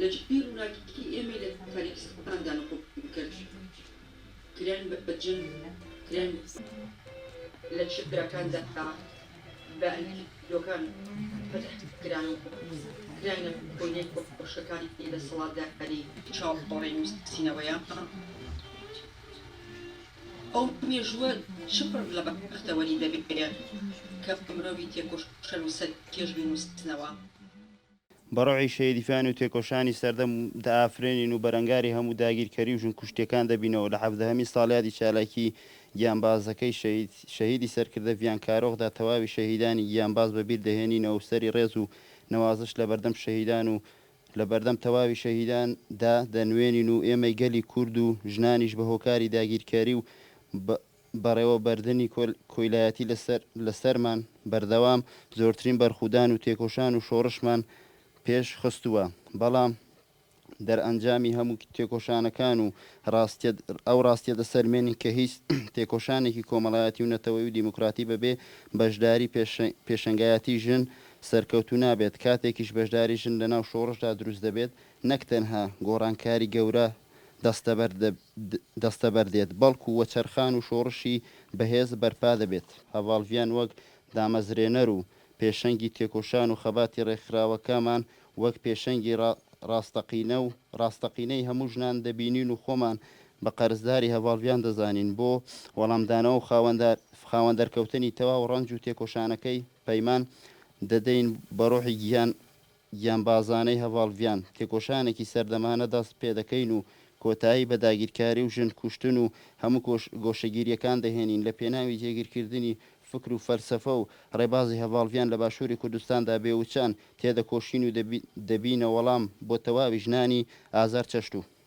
لە جێی ڕووناکی ئێمەی لە تاریکستاندا نقوبی کرد، کران بە جن، کران بە ساحیر، لە چیاکاندا بە ئەنکیلۆکان فەتح کران و کراینە کۆیلەی کۆشکەکانی دەسەڵاتداری چاوەڕێی نووسینەوەیان. ئەو مێژووە چ پڕ لە بەختەوەری دەبێ کە مرۆڤی تێکۆشەر و سەرکێش بینووسنەوە؟ بە ڕۆحی شەهیدیفانی و تێکۆشانی سەردەم دەئافرێنین و بەرەنگاری هەموو داگیرکەری و ژنکوشتیەکان دەبینەوە لە حەڤدەهەمین ساڵیادی چالاکی گیانبازەکەی شەهید شەهیدی سەرکردە ڤیان کارۆخدا تەواوی شەهیدانی گیانباز بە بیر دەهێنینەوە و سەری ڕێز و نەوازش لە بەردەم شەهیدان و لە بەردەم تەواوی شەهیدان دا دەنوێنین و ئێمەی گەلی کورد و ژنانیش بە هۆکاری داگیرکەری و بە بەڕێوەبەردنی کۆیلایەتی لە سەرمان بەردەوام زۆرترین بەرخودان و تێکۆشان و شۆڕشمان پێش خستووە، بەڵام دەرئەنجامی هەموو تێکۆشانەکان و ئەو ڕاستیە دەسەلمێنین کە هیچ تێکۆشانێکی کۆمەڵایەتی و نەتەوەی و دیموکراتی بەبێ بەشداری پێشەنگایەتی ژن سەرکەوتوو نابێت، کاتێکیش بەشداری ژن لەناو شۆڕشدا دروست دەبێت نەک تەنها گۆڕانکاری گەورە دەستەبەر دەستەبەر دێت، بەڵکو وەچەرخان و شۆڕشی بەهێز بەرپا دەبێت. هەڤاڵ ڤیان وەک دامەزرێنەر و پێشەنگی تێکۆشان و خەباتی ڕێکخراوەکەمان وەک پێشەنگی ڕاستەقینە و ڕاستەقینەی هەموو ژنان دەبینین و خۆمان بە قەرزداری هەڤاڵ ڤیان دەزانین بۆ وەڵامدانەوە و خاوەن دەرکەوتنی تەواو ڕەنج و تێکۆشانەکەی پەیمان دەدەین بە ڕۆحی گیان گیانبازانەی هەڤاڵ ڤیان، تێکۆشانێکی سەردەمانە دەست پێدەکەین و کۆتایی بە داگیرکاری و ژن کوشتن و هەموو گۆشەگیرییەکان دەهێنین لە پێناوی جێگیرکردنی فکر و فەلسەفە و ڕێبازی هەڤاڵ ڤیان لە باشووری کوردستاندا بێ وچان تێدەکۆشین و دەبینە وەڵام بۆ تەواوی ژنانی ئازار چەشتوو.